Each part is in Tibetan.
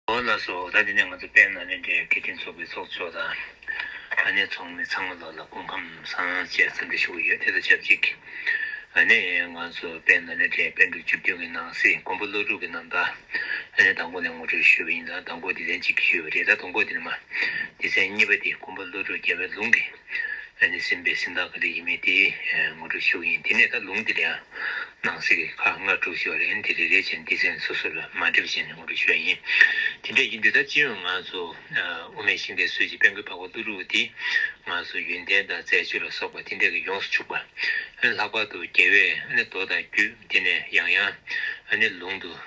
ཨོ་ལ་སོ་ད་དེ་ནས་ང་ཚོ་དཔལ་ནཱ་ལེནྡྲའི་དགེ་འདུན་ཚོགས་པའི་ཚོགས་མཆོག་དང། ཨ་ནེ་ཚོགས་མི་ཚང་མ་ལ་ལ་སྐུ་ཁམས་བཟང་བཅས་འཚམས་འདྲི་ཞུ་གི་ཡོད་དེ་དང་ཆབས་ཅིག་ཨ་ནེ་ཡིས་ང་ཚོ་དཔལ་ནཱ་ལེནྡྲའི་དཔལ་འབྲུག་བཅུ་བདུན་གྱི་ནང་གསེས་མགོན་པོ་ཀླུ་སྒྲུབ་ཀྱི་རྣམ་པ་ཨ་ནེ་དང་པོ་ནས་ངོ་སྤྲོད་ཞུས་པ་ཡིན་ལ་དང་པོ་དེ་ཚན་གཅིག་གིས་ཞུས་པ་རེད་ད་དང་པོ་དེ་ནི་མ་སྟེ་ཚན་གཉིས་པ་དེ་མགོན་པོ་ཀླུ་སྒྲུབ་རྒྱལ་བའི་ལུང་གི་ཨ་ནི་སེམས་དཔའི་སེམས་དང་ག་དུས་ཡིན་མིན་དེ་ངོ་སྤྲོད་ཤོག་ཡིན་དེ་ནས་ད་ལུང་དེ་ལ་ཡང་སྣང་སྲིད་ཁག་ལྔ་དྲུག་བཞི་བ་རེད་ཨེ་དེ་རེ་རེ་བྱས་ནས་དེ་ཚན་སོ་སོ་ལ་མ་འདྲེས་པ་བྱས་ནས་ངོ་སྤྲོད་ཤོག་ཡིན་དེ་འདྲ་ཡིན་དུས་ད་སྤྱི་ཡོངས་ང་ཚོ་དབུ་མའི་ཤིང་རྟའི་སྲོལ་གྱི་དཔལ་མགོན་འཕགས་པ་ཀླུ་སྒྲུབ་དེ་ང་ཚོ་ཡོན་ཏན་དང་མཛད་སྤྱོད་ལ་སོགས་པ་དེ་འདྲས་ཀྱིས་ཡོངས་སུ་ཕྱུག་པ་ཨ་ནི་ལྷག་པར་དུ་རྒྱལ་བས་ཨ་ནི་མདོ་དང་རྒྱུད་དེ་ནས་ཡང་ཡང་ཨ་ནི་ལུང་དུ།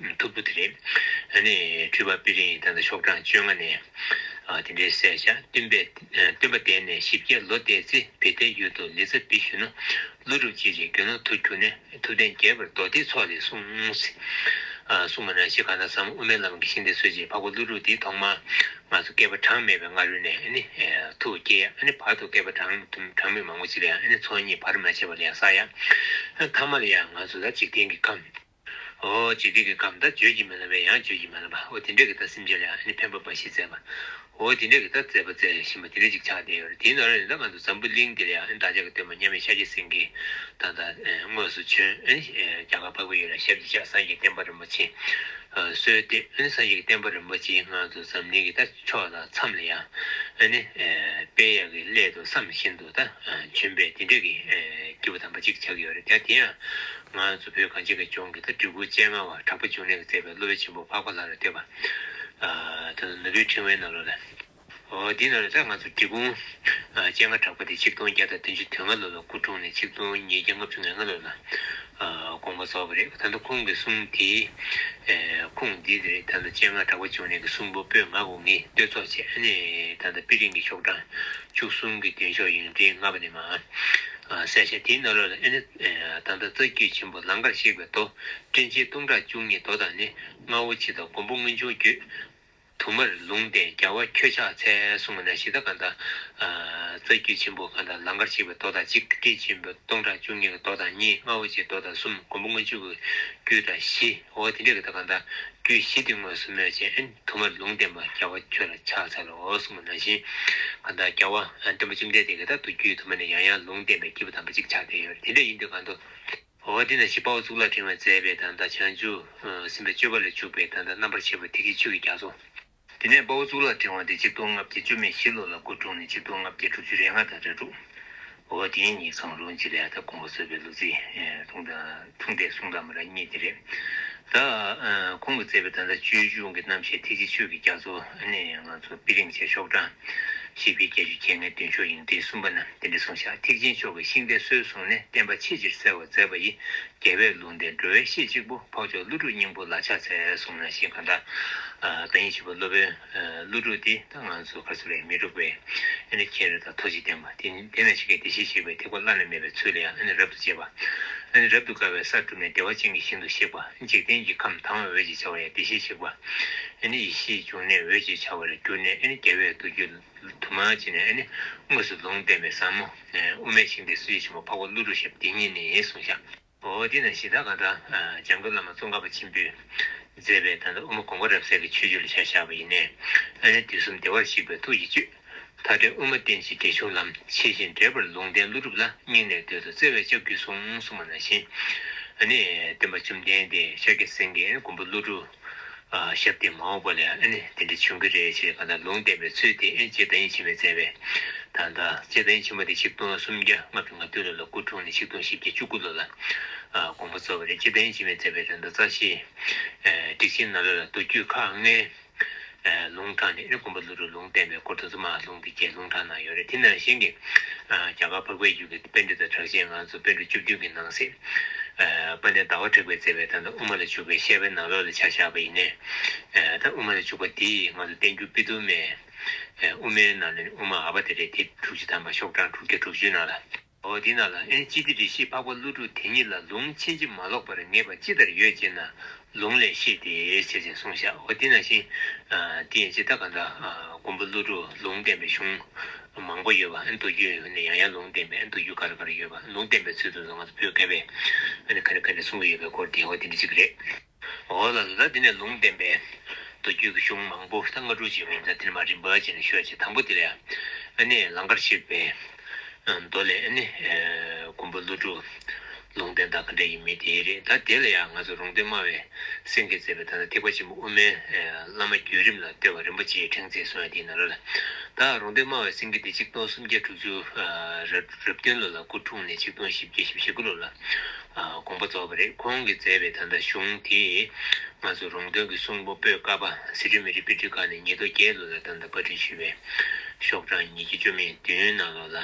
མཐུག་པོ་དེ་རེད། ཨ་ནི་སྤྲུལ་པ་པི་རིང་ད་ལྟ་ཤོག་གྲངས་བཅོ་ལྔ་ནས་དེ་འདྲའི་གསལ་བྱ་སྟོན་པས་སྟོན་པ་འདས་ནས་བཞི་བརྒྱ་ལོ་འདས་ཚེ་བི་ཏའི་ཡུལ་དུ་ལི་ཙཱ་བི་ཞུ་ན་ཀླུ་སྒྲུབ་ཅིག་རེ་གྱོན་ནོ་ཐུགས་འཁྱུག་ནས་ཐུབ་བསྟན་རྒྱས་པར་མདོ་སྡེའི་ཚོགས་ལས་གསུངས། གསུངས་པ་ན་ཞེས་གང་དག་བསམ་དབུ་མའི་ལམ་གྱི་ཤིང་རྟའི་སྲོལ་འབྱེད་འཕགས་པ་ཀླུ་སྒྲུབ་འདི་ཐོག་མར་ང་ཚོ་བསྐལ་པ་གྲངས་མེད་པའི་སྔ་རོལ་ནས་ནི་ཐུགས་དགྱེས་ཡ་ནི་བར་དུ་བསྐལ་པ་གྲངས་མེད་མང་པོ་ཅིག་ལ་ཡང་ནི་ཚོགས་གཉིས་བར་མ་ཆད་པར་ལེགས་བསགས་ཡ། མཐའ་མ་ལ་ཡང་ང་ཚོ་ལ་འཇིག་རྟེན་གྱི་ཁམས། ཨོ། ཇི་སྟེ་གི་གམ་ད་བརྗོད་ཀྱི་མེད་ལ་བས་ཡང་བརྗོད་ཀྱི་མ་ལ་བ་ཨོ་དེ་འདྲས་ཀྱི་ད་སེམས་ཅན་ལ་ཡང་ནི་ཕན་པ་འབའ་ཞིག་བསྩལ་པ། ཨོ་དེ་འདྲས་ཀྱི་ད་བསྩལ་པ་བསྩལ་བཞིན་པ་དེ་འདྲས་ཅིག་ཆགས་བསྡད་ཡོད་རེད་དེའི་ནང་ར་ནི་ད་ང་ཚོ་འཛམ་བུ་གླིང་འདི་ལ་ཡང་ནི་བདག་ཅག་གི་སྟོན་པ་མཉམ་མེད་ཤཱཀྱ་སེང་གེ་དང་ད་དངོས་སུ་བྱོན་རྒྱ་གར་འཕགས་པའི་ཡུལ་ལ་ཞབས་ཀྱིས་བཞག་སངས་རྒྱས་བསྟན་པ་རིན་པོ་ཆེ་གསོལ་ཏེ་ཨ་ནི་སངས་རྒྱས་ཀྱི་བསྟན་པ་རིན་པོ་ཆེའི་ངང་དུ་འཛམ་གླིང་གི་ད་ཕྱོགས་ད་མཚམས་ལ་ཡང་ཨ་ནི་དཔལ་གཡག་གི་ཀླད་དུ་བསམ་བཞིན་དུ། ད་བྱོན་པས་དེ་འདྲ་གི་སྐྱེས་བུ་དམ་པ་གཅིག་ཆགས་ཀྱི་ཡོད་རེད་དེ་དེ་ཡང་ང་ཚོ་བོད་གངས་ཅན་གྱི་ལྗོངས་ཀྱི་ད་དྲུ་གུ་སྤྱན་སྔ་བ་དྲག་པོ་འབྱུང་གནས་ཀྱི་བརྩེ་བའི་སློབ་དཔོན་ཆེན་པོ་འཕགས་པ་ལྷ་རུ་སྟེར་བ་དང་ནོར་བུའི་ཕྲེང་བའི་རྣ་ལོ་ལ། འོ་དེ་ན་ད་ང་ཚོ་བྲིས་སྐུ་སྤྱན་སྔ་དྲག་པོ་དེ་ཆིག་སྟོང་བརྒྱ་དང་བདུན་ཅུ་དོན་ལྔ་ལོ་ལ་སྐུ་འཁྲུངས་ནས་ཆིག་སྟོང་ཉིས་བརྒྱ་ལྔ་བཅུ་ང་ལྔ་ལོ་ལ་དགོངས་པ་རྫོགས་པ་རེད་ད་ལྟ་ཁུངས་ཀྱི་གསུང་དེ། ཁུངས་འདི་དེ་རེད་ད་ལྟ་སྤྱན་སྔར་གྲགས་པ་བཅུ་གནས་ཀྱི་གསུང་པོ་པོད་ལྔ་དགུ་ལྔས་བསྟོད་ཚོགས་བྱས་ཨ་ནི་ད་ལྟ་པི་ལིང་གི་ཤོག་གྲངས་བཅུ་གསུམ་གྱི་མདུན་ཤོག་ཡོན་ཏན་ལྔ་པ་ནས་མ་གསལ་ཞལ་དེའི་སྣ་ལོ་ལ་ཨ་ནི་ད་ལྟ་རྩ་རྒྱུད་ཆེན་པོ་ལང་ཀར་གཤེགས་པའི་མདོ་སྤྲིན་ཆེན་སྟོང་ཕྲག་བཅུ་གཉིས་མདོ་དང་ནི་རྔ་བོ་ཆེ་དང་མགོན་པོ་མངོན་བྱུང་རྒྱུད། དུ་མར་ལུང་བསྟན་རྒྱལ་བ་ཁྱོད་ཕྱག་འཚལ་གསུང་བ་ན་གཞི་བདག་གང་དག། རྩ་རྒྱུད་ཆེན་པོ་གང་དག་ལང་ཀར་གཤེགས་པའི་མདོ་དང་གཅིག་སྐད་ཅིག་མདོ་སྟོང་ཕྲག་བཅུ་གཉིས་ཀྱི་མདོ་དང་གཉིས་ལྔ་འོག་ཕྱེད་མདོ་དང་གསུམ་མགོན་པོ་སྔོན་འཇུག་གི་རྒྱུད་དང་བཞི་འོ་དེ་འདྲའི་གང་དག་གང་དག་རྒྱུད་བཞི་འདི་དངོས་སུ་སྨོས་ཅན་དུ་མར་ལུང་བསྟན་པ་རྒྱལ་བ་ཁྱོད་ལ་ཕྱག་འཚལ་ལོ་གསུང་བ་ན་བཞིན་གང་དག་རྒྱལ་བ་བསྟན་པ་བཅོམ་ལྡན་འདས་གང་དག་ཏུ་རྒྱུད་དུ་མ་ནས་ཡང་ཡང་ལུང་བསྟན་པའི་སྐྱེས་བུ་དམ་པ་ཅིག་ཕྱག་འཚལ་ཡོད་དེ་འདྲ་ཡིན་དུས་གང་དུ། བ་འདི་ན་ཞེས་དཔའ་བོ་གཙུག་ལག་ཕྲེང་བས་མཛད་པའི་དང་ད་བྱང་ཆུབ་སེམས་དཔའི་སྤྱོད་པ་ལས་འཇུག་པའི་དང་ད་རྣམ་པར་ཕྱེ་བའི་ཐིག་གི་ཆོས་ཀྱི་རྒྱ་མཚོ། དེ་ནས་དཔའ་བོ་གཙུག་ལག་ཕྲེང་བ་འདི་གཅིག་སྟོང་ལྔ་བརྒྱ་བཅོ་ལྔའི་ཞི་ལོ་ལ་སྐུ་འཁྲུངས་ནས་གཅིག་སྟོང་ལྔ་བརྒྱ་དྲུག་ཅུ་རེ་ལྔ་དང་རེ་དྲུག། བ་བ་དེ་ཉིད་གང་རུང་གཅིག་ལས་ད་དགོངས་པ་གསོལ་བའི་ལུགས་ཚིག་ཐུང་དང་ཐུང་དེ་གསུང་དང་མ་ར་གཉིས་དེ་རེད། ད་ཁོང་གིས་མཛད་པའི་དང་ད་སྤྱོད་གཞུང་གི་རྣམ་བཤད་ཐིག་གི་ཆོས་ཀྱི་རྒྱ་མཚོ་ནི་ང་ཚོ་དཔེ་རིང་ཆེ་ཤོག་གྲངས་བཞི་པའི་བརྒྱད་ཅུ་བརྒྱད་ལྔའི་མདུན་ཤོག་ཡིན་གྲི་གསུམ་པ་ན། དེ་འདི་གསུངས་བྱ་ཐེག་ཆེན་མཆོག་གི་ཤིང་རྟའི་སྲོལ་བཟུང་ནས་བསྟན་པ་ཆེས་ཆེར་གསལ་བར་མཛད་པ་ཡི། རྒྱལ་བས་ལུང་བསྟན་སྒྲོལ་བའི་གཤེད་གཅིག་པོ་འཕགས་མཆོག་ཀླུ་སྒྲུབ་སྙིང་པོ་ལ་ཕྱག་འཚལ་གསུངས་ན་ཤིང་གང་དག་ཡིན་བྱས་པ་སློབ་དཔོན་ཀླུ་སྒྲུབ་འདི་ད་ང་ཚོ་གར་སོ་རས་མི་འགྲུབ་པས་ཨེ་ནི་ཁྱེད་རེ་དང་ཐོ་གཅིག་བསྟན་པ་དེ་ནི་དེ་ན་ཆེ་གེ་བདེ་གཤེགས་གཤེགས་པའི་ཐེག་པ་བླ་ན་མེད་པའི་ཚུལ་ལ་ཡང་ཨེ་ནི་རབ་ཏུ་གཅེས་པ་ཨེ་ནི་རབ་ཏུ་དགའ་བའི་སར་གྲུབ་ནས་བདེ་བ་ཅན་གྱི་ཞིང་དུ་གཤེགས་པ་འཇིག་རྟེན་གྱི་ཁམས་དྭངས་བའི་འོད་ཅེས་བྱ་བ་ཡང་བདེ་གཤེགས་གཤེགས་པ་ཨེ་ནི་ཡེ་ཤེས་འབྱུང་གནས་འོད་ཅེས་བྱ་བར་གྱུར་ནས་ཨེ་ནི་རྒྱལ་བས་མདོ་རྒྱུད། དུ་མ་བྱས་ནས་ནི་དངོས་སུ་ལུང་བསྟན་པའི་ཟབ་མོ། དབུ་མའི་ཞིང་འདི་སུ་ཡི་ཆེན་པོ་འཕགས་པ་ཀླུ་རུ་ཞབས་འདི་ཉིད་ནི་གསུང་བཤགས། འོ་འདི་ན་གཞི་བདག་གང་དག་འཇམ་མགོན་བླ་མ་ཙོང་ཁ་པ་ཆེན་པོས་མཛད་པའི་ད་ལྟ་དབུ་མ་དགོངས་པ་རབ་གསལ་གྱི་ཆོས་བཅུ་ལ་བྱ་བཞག་པ་ཡིན་ནས་ཨ་ནི་དུས་གསུམ་བདེ་བར་གཤེགས་པའི་ཐུགས་ཀྱི་བཅུད། མཐའ་བྲལ་དབུ་མ་བསྟན་བྱའི་འགྲེལ་ཆུང་ལམ་ཕྱེད་བཞིན་འགྲེལ་པར་ལུང་བསྟན་ཀླུ་སྒྲུབ་ལ་སྙིང་ནས་འདོད་དོ་བརྩེ་བས་ལྕགས་ཀྱུས་གསུང་གསུང་བ་ན་བཞིན། ཨ་ནི་བསྟན་པ་བཅོམ་ལྡན་འདས་ཤཱཀྱ་སེང་གེའི་མགོན་པོ་ཀླུ་སྒྲུབ། ཞབས་ཏེ་མ་འོངས་པ་ལ་ཨེ་ནི་དེ་འདྲ་འབྱུང་གི་རེད་ཅེས་གང་ལྟར་ལུང་བསྟན་པའི་ཚུལ་དེ་ཨེ་ཅེས་བརྡ་ཡིག་ཕྱི་མས་བསྩལ་བས། ད་ལྟ་ཅེས་བརྡ་ཡིག་ཕྱི་མ་དེ་ཆིག་སྟོང་སུམ་བརྒྱ་ལྔ་བཅུ་ང་བདུན་ལོ་ལ་སྐུ་འཁྲུངས་ནས་ཆིག་སྟོང་བཞི་བརྒྱ་བཅུ་དགུ་ལོ་ལ་དགོངས་པ་སྩོལ་བ་རེད་ཅེས་བརྡ་ཡིག་ཕྱི་མས་བསྩལ་བའི་རེ་འདོད་རྩ་ཆེའི་སྒྲིག་ཆེན་ནཱ་ལོ་ལ་མདོ་རྒྱུད་ཁག་ལྔའི་ལུང་དྲངས་ནས་ཨེ་དགོན་པ་ཀླུ་རུ་ལུང་བསྟན་པའི་སྐོར་དུ་རྫུན་མ་ཨ་ལུང་གི་སྐད་ལུང་དྲངས་གནང་ཡོད་རེད་དེ་ནང་བཞིན་གྱི་རྒྱ་གར་འཕགས་པའི་རྒྱུད་ཀྱི་དཔེ་འགྲེལ་དང་གྲགས་ཆེན་ང་ཚོ་དཔེ་འགྲོ་བཅུ་བདུན་གྱི་ནང་གསེས་པ་ནས་ཟླ་བ་དྲེགས་པའི་བརྩེ་བའི་དང་ད་དབུ་མ་ལ་འཇུག་པའི་བཤད་པའི་ནང་ལོགས་ལ་ཆ་བཞག་པ་ཡིན། ད་དབུ་མ་ལ་འཇུག་པ་འདི་ང་ཚོ་བསྟན་འགྱུར་པི་དུ་མའི་དབུ་མའི་ནང་ནས་ནི་དབུ་མ་ཨ་བ་དེ་རེད་དེ་དྲུག་ཅུ་ཐམ་པ་ཤོག་གྲངས་དྲུག་བརྒྱ་དྲུག་ཅུའི་ནང་ལ། འོ་དེས་ན་ལ་ཨེན་ཅི་ཏི་རེ་ཤིས་འཕགས་པ་ཀླུ་སྒྲུབ་དེ་ཉིད་ལ་ལུང་ཕྱིན་ཅི་མ་ལོག་པར་ངེས་པ་ཅི་ལྟར་ཡོད་ཅེ་ན། ལུང་ལས་ཤེས་ཏེ་ཞེས་ཅེས་གསུངས་ཤག་འོ་དེས་ན་བཞིན། དེ་ཡིན་ཅེ་ད་ག་འདྲ། མགོན་པོ་ཀླུ་སྒྲུབ་ལུང་བསྟན་པའི་གཞུང། མང་པོ་ཡོད་པ་མདོ་རྒྱུད་ནས་ཡང་ཡང་ལུང་བསྟན་པའི་མདོ་རྒྱུད་ག་རེ་ག་རེ་ཡོད་པ་ལུང་བསྟན་པའི་ཚུལ་དུ་ང་ཚོ་བོད་སྐད་པས་ག་རེ་ག་རེ་གསུང་གི་ཡོད་པའི་སྐོར་དེ་འོ་དེ་འདྲ་ཅིག་རེད། འོ་ལ་ལ་དེ་ནས་ལུང་བསྟན་པའི། མདོ་རྒྱུད་ཀྱི་གཞུང་མང་པོ་ཐང་ང་དྲུག་ཅིག་མིན་ད་དེ་ནི་མ་རིག་འབའ་ཞིག་ནི་ཤོད་ཅིག་དང་པོ་དེ་ལས་ཨ་ནི་ལང་ཀར་གཤེགས་པའི། མདོ་ལས་ཨ་ནི། མགོན་པོ་ཀླུ་སྒྲུབ། ལུང་བསྟན་དང་ག་འདྲ་ཡིན་མིན་དེ་ཡི་རེད་ད་དེ་ལ་ཡང་ང་ཚོ་རུང་སྟོན་སྨྲ་བའི་སེང་གེས་མཛད་པའི་ད་ལྟ་ཐེག་པ་ཆེན་པོ་དབུ་མའི་བླ་མ་བརྒྱུད་རིམ་ལ་ལྟོས་པ་རིན་པོ་ཆེའི་ཕྲེང་མཛེས་གསུངས་ཡ་དེའི་ནང་ལོ་ལ་ད་རུང་སྟོན་སྨྲ་བའི་སེང་གེ་འདི་གཅིག་སྟོང་སུམ་བརྒྱ་དྲུག་ཅུ། རབ་བདུན་ལོ་ལ་སྐུ་འཁྲུངས་ནས་ཆིག་སྟོང་བཞི་བརྒྱ་བཞི་བཞི་དགུ་ལོ་ལ་དགོངས་པ་རྫོགས་པ་རེད་ཁོང་གིས་མཛད་པའི་ད་ལྟ་གཞུང་དེས་ང་ཚོ་རོང་སྟོན་གྱི་གསུང་པོ་པོད་ཀ་པ་སི་ཁྲོན་མི་རིགས་དཔེ་ཁྲིད་ཁང་ནས་ཉིས་སྟོང་བརྒྱད་ལོ་ལ་ཏང་དང་བཀའ་དྲུང་ཞུས་པའི་ཤོག་གྲངས་ཉིས་བརྒྱ་བཅོ་མེད་བདུན་ནང་ལོགས་ལ་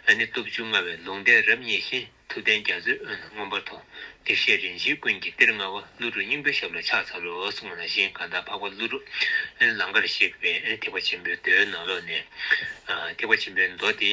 ཨ་ནེ་སྟོབས་བཅུ་མངའ་བའི་ལུང་བསྟན་རབ་བརྙེས་ཤིང་ཐུབ་བསྟན་རྒྱ་མཚོའི་དབོན་ལ་མངོན་པར་མཐོ་བདེ་བཤེས་རིན་ཆེན་ཀུན་གྱི་གཏེར་མངའ་བ་ཀླུ་སྒྲུབ་སྙིང་པོའི་ཞབས་ལ་ཕྱག་འཚལ་ལོ་གསུངས་ལ་གཞན་གང་དག་འཕགས་པ་ཀླུ་སྒྲུབ་ཨེ་ལང་ཀར་གཤེགས་པའི་ཐེག་པ་ཆེན་པོའི་མདོའི་ནང་ལོགས་ནས་ཐེག་པ་ཆེན་པོའི་མདོ་དེ།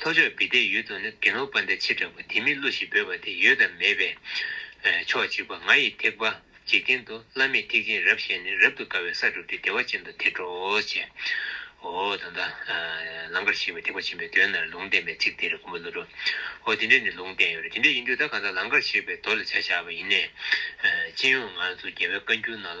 ལྷོ་ཕྱོགས་བི་ཏའི་ཡུལ་དུ་ནི་དགེ་སློང་སྤ་འདེ་ཆེ་དྲག་པོ་དེ་མི་བསླུ་ཞེས་འབོད་པ་དེ་ཡོད་དམ་མེད་པས། ཕྱོགས་གཅིག་པ་ང་ཡི་ཐེག་པ་འཇིག་རྟེན་དུ་བླ་མེད་ཐེག་ཆེན་རབ་ཞལ་ནས་རབ་ཏུ་དཀར་བའི་ས་བསྒྲུབས་ཏེ་བདེ་བ་ཅན་དུ་ཐེག་འགྲོ་ཞེས། ཨོ་ད་ལྟ། ལང་ཀར་ཞེས་པའི་ཐེག་པ་ཆེན་པོའི་དོན་རྣམས་ལུང་བསྟན་པའི་ཚིག་དེ་རེ་ཀུན་པོ་བསླུ་འགྲོ། ཨོ་དེ་འདྲས་ནི་ལུང་བསྟན་ཡོད་རེ་དེ་འདྲས་ཡིན་དུས་ད་གང་ཟག་ལང་ཀར་ཞེས་པའི་མདོ་ལ་བྱ་བཞག་པ་ཡིན་ནས། སྤྱི་ཡོངས་ང་ཚོ་རྒྱལ་བའི་བཀའ་འགྱུར་ནང་ལ།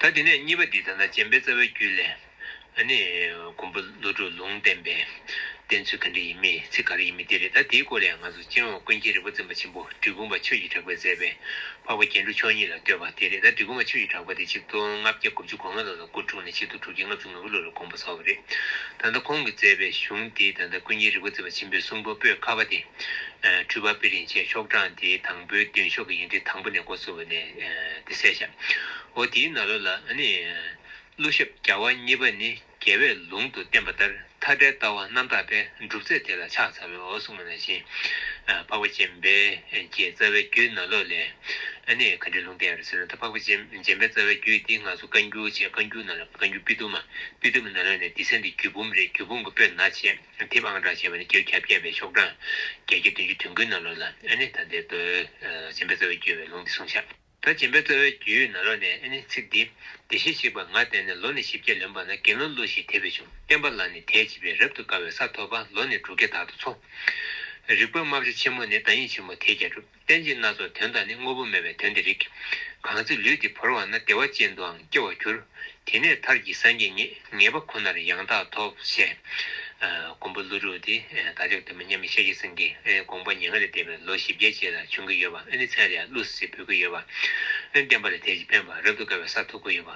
ད་དེ་ནས་གཉིས་པ་འདི་ལྟར་ན་སྦྱིན་པའི་རྩ་བའི་རྒྱུད་ལས། ནི། མགོན་པོ་ཀླུ་སྒྲུབ་ལུང་བསྟན་པས། བསྟན་ཚུལ་ག་འདྲས་ཡིན་མིན་ཚིག་ག་རེ་ཡིན་མིན་དེ་རེད་ད་དེའི་སྐོར་ལས་ང་ཚོ་སྤྱན་འོག་ཀུན་མཁྱེན་རིན་པོ་བཙུན་པ་ཆེན་པོ་གྲི་གུམ་པ་ཆོས་ཀྱི་གྲགས་པས་མཛད་པའི་འཕགས་པ་རྒྱན་དྲུག་མཆོག་གཉིས་ལ་བསྟོད་པ་དེ་རེད་ད་གྲི་གུམ་པ་ཆོས་ཀྱི་གྲགས་པ་དེ་ཆིག་སྟོང་ལྔ་བརྒྱ་དགུ་བཅུ་གོ་ལྔ་ལོ་ལ་སྐུ་འཁྲུངས་ནས་ཕྱི་དུ་དྲུག་བརྒྱ་ལྔ་བཅུ། ནོར་བུ་ལོ་ལ་དགོངས་པ་སོགས་ཀྱི་རེད། ད་ལྟ་ཁོང་གིས་མཛད་པའི་གཞུང་འདི་ད་ལྟ་ཀུན་མཁྱེན་རི་བོ་རྩེ་བ་ཆེན་པོའི་གསུང་སྤོ་པོད་ཁ་བ་སྟེ། འཕྲུལ་བ་པི་རིན་ཆེན་ཤོག་གྲངས་དེའི་དང་པོའི་མདུན་ཤོག་གི་ཡིག་འབྲི་དང་པོ་ནས་མགོ་བཙུགས་པ་ནས་དེ་གསལ་བྱ། འོ་དེའི་ན་ལོ་ལ་ནི། གླུ་ཞབས་བརྒྱ་བ་གཉིས་པ་ནི་རྒྱལ་བས་ལུང་དུ་བསྟན་པ་ལྟར་མཐའ་བྲལ་ལྟ་བ་རྣམ་དག་པས་སྒྲུབ་རྫས་དེ་ལ་ཕྱག་འཚལ་བའི་འོ་གསུངས་པ་ན་བཞིན། འཕགས་པ་སྤྱན་རས་ཀྱི་རྩ་བའི་རྒྱུད་ན་ལོ་ལས། ག་འདྲའི་ལུང་བསྟན་ཡོད་ཟེར་ན་ད་འཕགས་པ་སྤྱན་རས་རྩ་བའི་རྒྱུད་འདི་ང་ཚོ་བཀའ་འགྱུར་བཅས་བཀའ་འགྱུར་རྣམས་ལ། བཀའ་འགྱུར་སྤི་ཏུ་མ། སྤི་ཏུ་མ་ནཱ་ལེན་ནི་འདི་ཚེ་འདི་རྒྱུད་འབུམ་རེད་རྒྱུད་འབུམ་གྱི་པོད་ནག་ཆེ། དེབ་ཨང་གྲངས་བྱས་པ་ནི་བརྒྱད་བརྒྱ་བརྒྱད་པའི་ཤོག་གྲངས། བརྒྱད་བརྒྱ་བདུན་ཅུ་དོན་ཀུན་ནཱ་ལོ་ལ་ཨེ་ནི་ད་འདིར་འདོད། སྦྱིན་པའི་རྩ་བའི་རྒྱུད་བའི་ལུང་འདི་གསུངས་བྱ། ད་སྦྱིན་པའི་རྩ་བའི་རྒྱུད་ནཱ་ལོ་ནས་ཨེ་ནི་ཚིག་འདི། བདེ་གཤེགས་གཅིག་པ་ང་བསྟན་ནས་ལོ་ནི་བཞི་བརྒྱ་ལོན་པ་ན་དགེ་སློང་ཀླུ་ཞིག་དད་པས་བྱུང་བསྟན་པ་ལ་ནི་དད་ཅིག་པས་རབ་ཏུ་དགའ་བའི་ས་ཐོབ་པ་ལོ་ནི་དྲུག་བརྒྱ་དག་ཏུ་འཚོ། རིག་པ་རྨ་བྱ་ཆེན་མོ་ནི་བདག་ཉིད་ཆེན་པོ་དེས་ཀྱང་བསྒྲུབ། གཏན་ཅིག་སྣ་ཚོགས་དོན་དང་ནི་དངོས་པོ་མེད་པའི་དོན་དེ་རིག། གང་ཚེ་ལུས་འདི་བོར་བ་ན་བདེ་བ་ཅན་དུའང་སྐྱེ་བར་འགྱུར། དེ་ནས་མཐར་གྱིས་སངས་རྒྱས་ངེས་པ་ཁོ་ནར་ཡང་དག་ཐོབ། ཞེས། མགོན་པོ་ཀླུ་སྒྲུབ་དེས་བདག་ཅག་དུ་མ་མཉམ་མེད་ཤེས་བྱའི་སེང་གེ་དགོངས་པ་ཉེ་ལྔ་ལས་འདས་པའི་ལོ་བཞི་བརྒྱད་ཅེས་ལ་བྱོན་གྱི་ཡོད་པ་ཨེ་ནི་མཚན་ལས་ཀླུ་ཟེར་འབོད་ཀྱི་ཡོད་པ་ཨེ་ནི་བསྟན་པ་ལས་དལ་གྱིས་ཕན་པ་རབ་ཏུ་དགའ་བའི་ས་ཐོབ་ཀྱི་ཡོད་པ།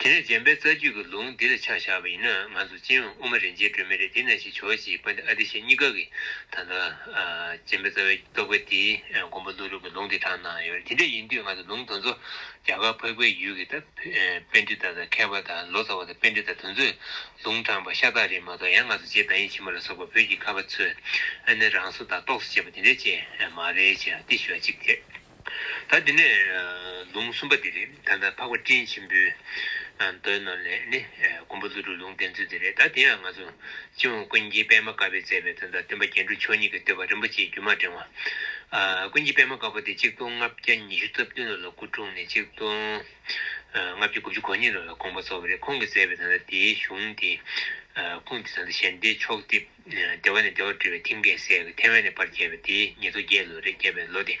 དེ་ནས་འཇམ་དཔལ་རྩ་རྒྱུད་ཀྱི་ལུང་འདི་ལ་ཕྱག་བཞག་པ་ཡིན་ན་ང་ཚོ་སྤྱན་དབུས་དབུ་མ་རིན་ཆེན་སྒྲོན་མེ་རེ་འདི་ན་ཞིག་བྱོས་ཞེས་པ་འདི་ཨ་ཏི་ཤས་གཉིས་ཀ་གི་ད་ལྟ་འཇམ་དཔལ་རྩ་བའི་རྟོགས་པའི་དེའི་མགོན་པོ་ཀླུ་རིགས་ཀྱི་ལུང་དེ་དྲངས་གནང་ཡོད་རེད་དེ་འདྲ་ཡིན་དུས་ང་ཚོ་ལུང་དོན་ཚོ་རྒྱ་གར་འཕགས་པའི་ཡུལ་གྱི་ད་དཔལ་འདི་ལྟར་ད་མཁས་པ་ད་ལོ་ཙཱ་བ་ད་དཔལ་འདི་ལྟར་དོན་ཚོས་ལུང་དྲངས་པ་ཤ་སྟག་རེད་མ་གཏོགས་ཡང་ང་ཚོ་རྗེ་བདག་ཉིད་ཆེན་མོ་ལ་སོགས་པ་བོད་ཀྱི་ཁ་བ་ཚོས་ཨ་ནེ་རང་སོ་ད་རྟོགས་སོ་ཅེས་པ་དེ་འདྲ་ཅན་མ་རེད་ཅེས་ཨ་ཏི་ཤོད་ཅིག་དེ། ད་འདི་ནས་ལུང་གསུམ་པ་འདི་རེད་ད་ལྟ་འཕགས་པ་སྤྲིན་ཆེན་པོའི་མདོའི་ནང་ནས་ནི་མགོན་པོ་ཀླུ་སྒྲུབ་ལུང་བསྟན་ཚུལ་འདི་རེད་ད་འདི་ཡང་ང་ཚོ་སྤྱི་བོ་ཀུན་མཁྱེན་པདྨ་དཀར་པོས་མཛད་པའི་དོན་དང་བསྟུན་པ་རྒྱན་དྲུག་མཆོག་གཉིས་ཀྱི་བསྟོད་པ་རིན་པོ་ཆེའི་རྒྱུན་མ་འབྲེང་བ། ཀུན་མཁྱེན་པདྨ་དཀར་པོ་དེ་གཅིག་སྟོང་ལྔ་བརྒྱ་ཉི་ཤུ་རྩ་བདུན་ལོ་ལ་སྐུ་འཁྲུངས་ནས་གཅིག་སྟོང་ལྔ་བརྒྱ་དགུ་བཅུ་གོ་གཉིས་ལོ་ལ་དགོངས་པ་རྫོགས་པ་རེད་ཁོང་གིས་མཛད་པའི་དོན་དང་དེའི་གཞུང་དེ་ཁུངས་དེ་དང་དེ་གཞན་སྡེའི་ཕྱོགས་བསྡེབས། ལྟེ་བ་ནས་ལྟེ་བར་སྤྲོས་པའི་མཐིང་གའི་སའི་ཐེ་ཝན་ནས་བར་བརྒྱད་པ་དེའི་ཉི་ཚོ་བརྒྱད་ལོ་རེ་བརྒྱད་པའི་ལོ་སྟེ།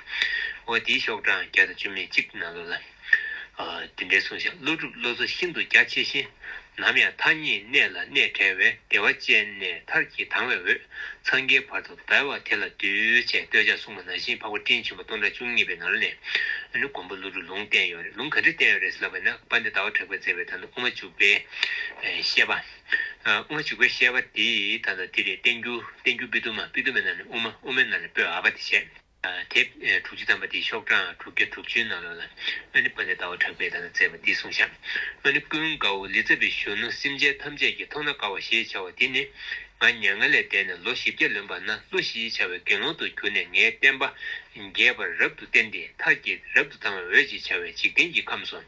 འོ་དེའི་ཤོག་གྲངས་བརྒྱ་དང་བཅུ་མེད་གཅིག་ན་ལོ་ལ། འདི་འདྲའི་གསུང་བཤད་ཀླུ་སྒྲུབ་བློ་གཟུ་ཤིན་ཏུ་རྒྱ་ཆེ་ཞིང། ནམ་ཡང་མཐའ་གཉིས་གནས་ལ་གནས་བྲལ་བའི་བདེ་བ་ཅན་ནས་མཐར་གྱིས་དྭངས་བའི་འོད་འཚང་གི་བར་དུ་བརྡལ་བ་དེ་ལ་གདུལ་བྱའི་བསྟོད་བྱ་སྲུང་མ་ན་བཞིན་འཕགས་པ་སྤྲིན་ཆེན་པོ་སྟོང་ཕྲག་བཅུ་གཉིས་པའི་ནང་ནས་མགོན་པོ་ཀླུ་སྒྲུབ་ལུང་བསྟན་ཡོད་རེད་ལུང་ག་འདྲས་བསྟན་ཡོད་རེད་ཟེར་ལབ་པ་ན་པ་འདི་ཟླ་བ་གྲགས་པས་མཛད་པའི་དང་དུ་དབུ་མ་བཅུ་པའི་བཤད་པ། དབུ་མ་ཞིག་པའི་ཤེས་པ་དེས་ད་ལྟ་དེ་ལས་བསྟན་རྒྱུ་བསྟན་རྒྱུ་པི་ཏུ་མ་པི་ཏུ་མའི་ནང་ནས་དབུ་མ་དབུ་མའི་ནང་ནས་སྤོས་ཨ་བ་དེ་བྱས། དེ་དྲུག་ཅུ་ཐམ་པ་དེའི་ཤོག་གྲངས་དྲུག་བརྒྱ་དྲུག་ཅུའི་ནང་ལོགས་ལ་ཨ་ནི་ཕ་ནི་ཟླ་བ་གྲགས་པས་ད་ལྟ་བཙས་པ་འདི་གསུངས་བཞག་ཨ་ནི་ཀུན་དགའ་བོ་ལི་ཙྪ་བའི་གཞོན་ནུ་སེམས་ཅན་ཐམས་ཅད་ཀྱིས་མཐོང་ན་དགའ་བ་ཞེས་བྱ་བ་འདི་ནི་ང་མྱ་ངན་ལས་འདས་ནས་ལོ་བཞི་བརྒྱ་ལོན་པ་ན་ཀླུ་ཞེས་བྱ་བའི་དགེ་སློང་དུ་གྱུར་ནས་ངའི་བསྟན་པ་རྒྱས་པར་རབ་ཏུ་བསྟན་ཏེ་མཐར་གྱིས་རབ་ཏུ་དང་བའི་འོད་ཅེས་བྱ་བའི་འཇིག་རྟེན་གྱི་ཁམས་སུ།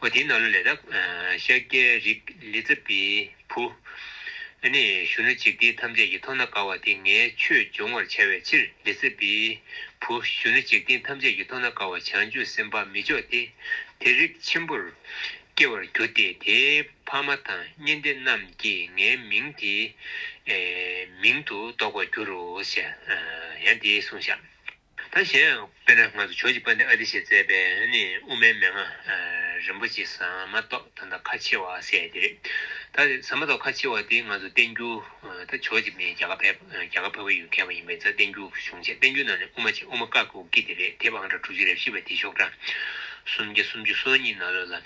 འོ་དེའི་ནང་ལ་ལས་དང། ཤཱཀྱའི་རིགས་ལི་ཙྪ་པའི་བུ། ནི་གཞོན་ནུ་འཇིག་རྟེན་ཐམས་ཅད་ཀྱི་མཐོང་ན་དགའ་བ་དེ་ངའི་ཆོས་སྦྱོང་བར་བྱ་བའི་ཕྱིར་ལི་ཙྪ་པའི་བུ་གཞོན་ནུ་འཇིག་རྟེན་ཐམས་ཅད་ཀྱི་མཐོང་ན་དགའ་བ་བྱང་ཆུབ་སེམས་དཔའ་མི་མཆོག་དེ་དེ་རིགས་ཆེན་པོར་སྐྱེ་བར་གྱུར་ཏེ་དེའི་ཕ་མ་དང་གཉེན་སྡེ་རྣམས་ཀྱིས་ངའི་མིང་དེའི་མིང་དུ་འདོགས་པར་འགྱུར་རོ། ཡང་དེའི་གསུང་བཤམས། ད་གཞན་ཡང་དཔེར་ན་སྔར་ཆོས་ཀྱི་དཔལ་ལྡན་ཨ་ཏི་ཤས་མཛད་པའི་དབུ་མའི་མན་ངག་རིན་པོ་ཆེ་ཟ་མ་ཏོག་ད་ལྟ་ཁ་ཆེ་བ་ཟེར་དེ་རེད། ད་ཟ་མ་ཏོག་ཁ་ཆེ་བ་དེ་ང་ཚོ་བསྟན་འགྱུར་ད་ཆོས་ཀྱི་མི་རྒྱ་གར་ཕེབས་རྒྱ་གར་ཕེབས་པ་ཡོད་མཁན་བ་ཡིན་པས་ད་བསྟན་འགྱུར་གཞུང་ཆེ་བསྟན་འགྱུར་ནང་ནས་དབུ་མ་ཆེ་དབུ་མ་དཀར་གུ་གི་དེ་རེད་དེབ་ཨང་གྲངས་དྲུག་ཅུ་རེ་བཞི་པ་དེ་ཤོག་གྲངས་སུམ་བརྒྱ་སུམ་ཅུ་སོ་གཉིས་ན་ལོ་ལ།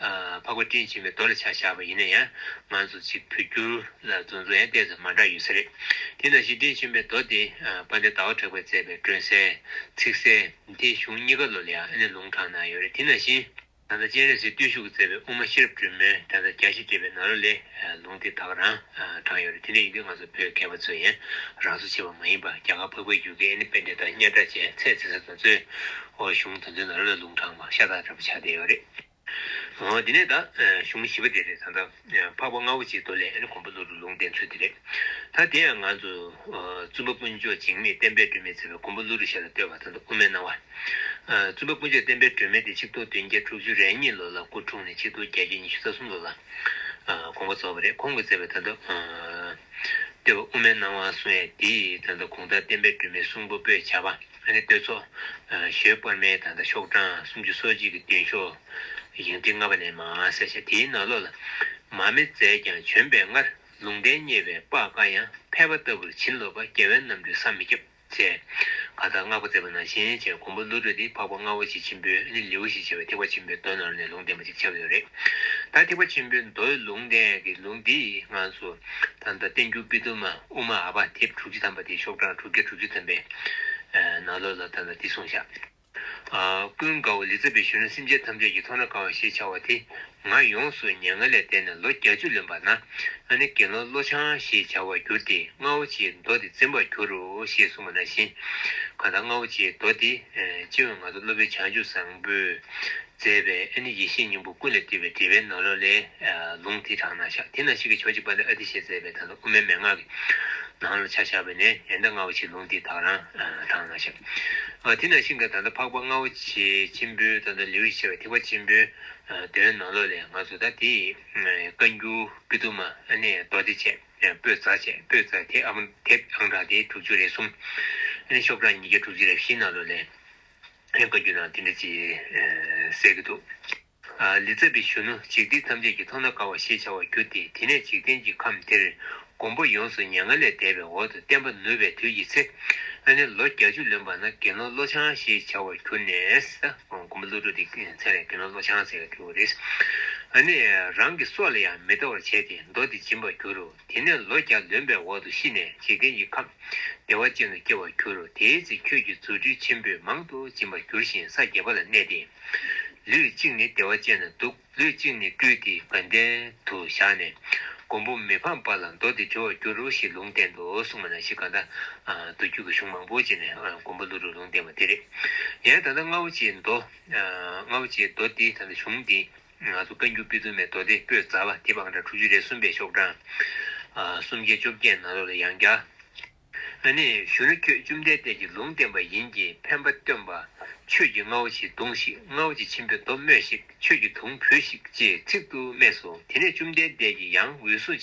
འཕགས་པ་སྤྲིན་ཆེན་པོའི་མདོ་ལ་ཆ་བཞག་པ་ཡིན་ན་ཡང་ང་ཚོ་གཅིག་བོད་འགྱུར་ལ་རྫུན་རྫུན་ཡང་བལྟས་ཙང་མ་འདྲ་ཡོད་ས་རེད། དེ་ནང་བཞིན་སྤྲིན་ཆེན་པོའི་མདོ་དེ་པ་ཎའི་ཟླ་བ་གྲགས་པས་མཛད་པའི་སྒྲོན་གསལ། ཚིག་གསལ། དེའི་གཞུང་གཉིས་ཀ་ལོ་ལེགས་ཨ་ནེ་ལུང་དྲངས་གནང་ཡོད་རེད་དེ་ནང་བཞིན། ད་ལྟ་སྤྱན་རས་གཟིགས་བརྟུལ་ཞུགས་མཛད་པའི་དབུ་མ་ཤེས་རབ་སྒྲོན་མེ་དགྲ་ཟླ་བརྒྱ་བཞི་འགྲེལ་པའི་ནང་ལོ་ལེགས་ལུང་དེ་དག་རང་དྲངས་ཡོད་རེད་དེ་འདྲ་ཡིན་དུས་ང་ཚོ་བོད་སྐད་པ་ཚོས་ཡང་རང་བཟོ་བྱས་པ་མ་ཡིན་པར་རྒྱ་གར་ཕག་པའི་རྒྱུག་ཁའི་ཨ་ནེ་དཔེ་འགྲེལ་དང་དམྱལ་བྲག་བཅས་ཚད་བརྩི་ས་དང་གཙོས། ཨོ་གཞུང་དོན་ཚན་ནང་ལོ་ལེགས་ལུང་དྲངས་པ་ཤ་སྟག་འདྲ་པོ་ཆགས་བསྡད་ཡོད་རེད། དེ་ནས་ད་གཞུང་བཞི་པ་དེ་རེད་ད། འཕགས་པ་ལྔ་བོ་གཅིག་ཏུ་ལས་གོང་བུ་ལྷུ་རུ་ལུང་བསྟན་ཚུལ་དེ་རེད། ད་དེ་ཡང་ང་ཚོ་བཙུན་པ་དཀོན་མཆོག་འཇིགས་མེད་བསྟན་པའི་སྒྲོན་མེས་མཛད་པའི་གོང་བུ་ལྷུ་རུ་ཞལ་ལ་བསྟོད་པ་དང་དུ་དབུ་མའི་སྣང་བ། བཙུན་པ་དཀོན་མཆོག་བསྟན་པའི་སྒྲོན་མེ་དེ་ཆིག་སྟོང་བདུན་བརྒྱ་དྲུག་ཅུ་རེ་གཉིས་ལོ་ལ་སྐུ་འཁྲུངས་ནས་ཆིག་སྟོང་བརྒྱད་བརྒྱ་ཉི་ཤུ་རྩ་གསུམ་ལོ་ལ་དགོངས་པ་རྫོགས་པ་རེད་ཁོང་གིས་མཛད་པའི་ད་དུ་བསྟོད་པ་དབུ་མའི་སྣང་བ་གསུང་ཡ་དེའི་ད་དུ་གོང་ལྟར་བསྟན་པའི་སྒྲོན་མེ་གསུང་པོ་པོས་བྱ་བ། ཨ་ནི་བསྟོད་ཚོགས། ཞོལ་དཔོན་མའི་ད་ལྟ་ཤོག་གྲངས་སུམ་ཅུ་སོ་གཅིག་གི་བདུན་ཤོག། བཞེངས་ཁྲི་ལྔ་པ་ནས་མ་ཨ་སེ་ཤ་དེའི་ནང་ལོགས་ལ། མ་མེ་མཛད་ཀྱང་བྱོན་པའི་སྔར་ལུང་བསྟན་རྙེད་པའི་དཔག་དཀའ་ཡང་ཕལ་པ་ལྟ་བུར་བྱིན་རློབས་པ་རྒྱལ་བའི་རྣམ་སྤྲུལ་བསམ་མི་ཁྱབ་མཛད། ག་དག་བསྔགས་པ་མཛད་པ་ནང་བཞིན་བྱས་གོང་བུ་བློ་གྲོས་ཏེ་འཕགས་པ་རྔ་བོ་ཆེ་ཆེན་པོས་ཨ་ནི་ལེའུ་ཞེས་བྱ་བའི་ཐེག་པ་ཆེན་པོའི་མདོ་ནང་ནས་ལུང་བསྟན་པ་ཅིག་ཆགས་ཡོད་རེད། ད་ཐེག་པ་ཆེན་པོའི་མདོའི་ལུང་བསྟན་གྱི་ལུགས་འདི་སྔངས་སུ་ད་ལྟ་བསྟན་འགྱུར་པི་ཏུ་མ། དབུ་མ་ཨ་བ་དེབ་དྲུག་ཅུ་ཐམ་པ་དེའི་ཤོག་གྲངས་དྲུག་བརྒྱ་དྲུག་ཅུ་ཐམ་པའི་ནང་ལོ་ལ་དོན་ལ་བསྟི་གསུང་བྱ། ཀུན་དགའ་བོ་ལི་ཙྪ་བའི་གཞོན་ནུ་སེམས་ཅན་ཐམས་ཅད་ཀྱི་ཐོག་ན་གང་བ་ཞེས་བྱ་བ་དེ་ང་ཡོངས་སུ་སྙན་ངག་ལས་བལྟས་ནས་ལོ་བརྒྱ་ཅུ་ལོན་པ་ན་ང་ནི་དགེ་སློང་བློ་འཆང་ཞེས་བྱ་བར་གྱུར་ཏེ་རྔ་བོ་ཆེའི་མདོ་དེ་འཛིན་པར་གྱུར་རོ་ཞེས་གསུངས་པ་ན་བཞིན། གང་དག་རྔ་བོ་ཆེའི་མདོ་དེ་སྤྱི་བོས་ང་ཚོ་སློབ་དཔོན་བྱང་ཆུབ་བཟང་པོས་མཛད་པའི་ཨ་ནི་ཡེ་ཤེས་སྙིང་པོ་ཀུན་ལས་སྤྲུལ་པའི་འགྲེལ་པའི་ནོར་ལོ་ལས། ལུང་དེ་དྲངས་ན་ཤག་དེ་ན་ཞིག་གི་ཕྱོགས་གཅིག་པ་ལས་ཨ་ཏི་ཤས་མཛད་པའི་ད་ལ་དབུ་མའི་མན་ངག་གི་ནང་ལ་ཆ་བཞག་པ་ནས་ཡན་ཏ་རྔ་བོ་ཆེའི་ལུང་དེ་དག་རང་དྲངས་ན་ཤག་དེ་ན་ཤིང་དང་ད་ལྟ་འཕགས་པ་རྔ་བོ་ཆེ་ཆེན་པོའི་ད་ལྟ་ལེའུ་ཡི་ཆེ་བ་ཐིགས་པ་ཆེན་པོའི་དོན་ནོར་ལོ་ལས་ང་ཚོ་ད་དེ་ཡི་བཀའ་འགྱུར་སྤྲུལ་གཏུམ་མ་ཨ་ནི་རྡོ་རྗེ་ཆས་སྤོས་རྫ་ཆས་སྤོས་རྫ་དེབ་ཨང་གྲངས་དེ་དྲུག་ཅུ་རེ་གསུམ། ཨ་ནི་ཤོག་གྲངས་ཉིས་བརྒྱ་དྲུག་ཅུ་རེ་བཞི་ནོར་ལོ་ལས། ཕན་དགའ་རྒྱུ་ན་དེ་འདྲ་ཅིག་ཟེར་གྱི་འདུག། ལི་ཙྪ་བའི་གཞོན་ནུ་འཇིག་རྟེན་ཐམས་ཅད་ཀྱི་མཐོང་ན་དགའ་བ་ཞེས་བྱ་བར་གྱུར་ཏེ་དེ་ནས་འཇིག་རྟེན་གྱི་ཁམས་དེར་མགོན་པོ་ཡོངས་སུ་མྱ་ངན་ལས་འདས་པའི་འོག་ཏུ་བསྟན་པ་ནུབ་པའི་དུས་ཀྱི་ཚེ། ཨ་ནེ་ལོ་བརྒྱ་བཅུ་ལོན་པ་ན་དགེ་སློང་བློ་བྱང་ཞེས་བྱ་བར་གྱུར་ནས། མགོན་པོ་བློ་གྲོས་དེའི་མཚན་ལས་དགེ་སློང་བློ་བྱང་ཟེར་བར་གྱུར་བ་རེད། ཨ་ནེ་རང་གི་སྲོག་ལ་ཡང་མི་ལྟ་བར་བྱས་ཏེ་མདོ་འདི་སྦྱིན་པར་གྱུར། དེ་ནས་ལོ་བརྒྱ་ལོན་པའི་འོག་ཏུ་ཤི་ནས་འཇིག་རྟེན་གྱི་ཁམས་བདེ་བ་ཅན་དུ་སྐྱེ་བར་འགྱུར་རོ་དེའི་ཚེ་ཁྱོད་ཀྱིས་རྫུ་འཕྲུལ་ཆེན་པོས་མང་དུ་སྦྱིན་པར་འགྱུར་ཞིང་ས་བརྒྱད་པ་ལ་གནས་ཏེ། ལུས་གཅིག་ནི་བདེ་བ་ཅན་ན་འདུག་ལུས་གཅིག་ནི་སྤྲུལ་ཏེ་དགའ་ལྡན་དུ་བཞག་ནས་མགོན་པོ་མི་ཕམ་པ་ལ་མདོ་འདི་འདྲི་བར་འགྱུར་རོ་ཞེས་ལུང་བསྟན་ཏོ་གསུངས་པ་ན་ཤི་ག་ད་དུ་རྒྱུད་ཀྱི་གཞུང་མང་པོ་བྱས་ནས་མགོན་པོ་ཀླུ་རུས་ལུང་བསྟན་པ་འདི་རེད། ཡང་ད་ལྟ་རྔ་བོ་ཆེའི་མདོ། རྔ་བོ་ཆེའི་མདོ་འདི་ད་ལྟ་གཞུང་འདི། ང་ཚོ་བཀའ་འགྱུར་པི་ཙུམ་པའི་མདོ་སྡེ་སྤོས་རྫ་བ་དེ་བང་ཁྲ་དྲུག་ཅུ་རེ་གསུམ་པའི་ཤོག་གྲངས། སུམ་བརྒྱ་བཅོ་བརྒྱད་ནང་ལོགས་ལ་ཡང་བརྒྱ། ཨ་ནི་གཞོན་ནུ་ཁྱོད་བཅོམ་ལྡན་འདས་ཀྱིས་ལུང་བསྟན་པ་ཡིན་གྱིས་ཕན་པ་སྟོན་པ། ཆོས་ཀྱི་རྔ་བོ་ཆེ་བརྡུངས་ཤིག་རྔ་བོ་ཆེ་ཆེན་པོའི་མདོ་སྨྲོས་ཤིག་ཆོས་ཀྱི་དུང་བུས་ཤིག་ཅེས་ཚིག་ཏུ་སྨྲས་སོ་དེ་ནས་བཅོམ་ལྡན་འདས་ཀྱིས་ཡང་འོད་སྲུངས།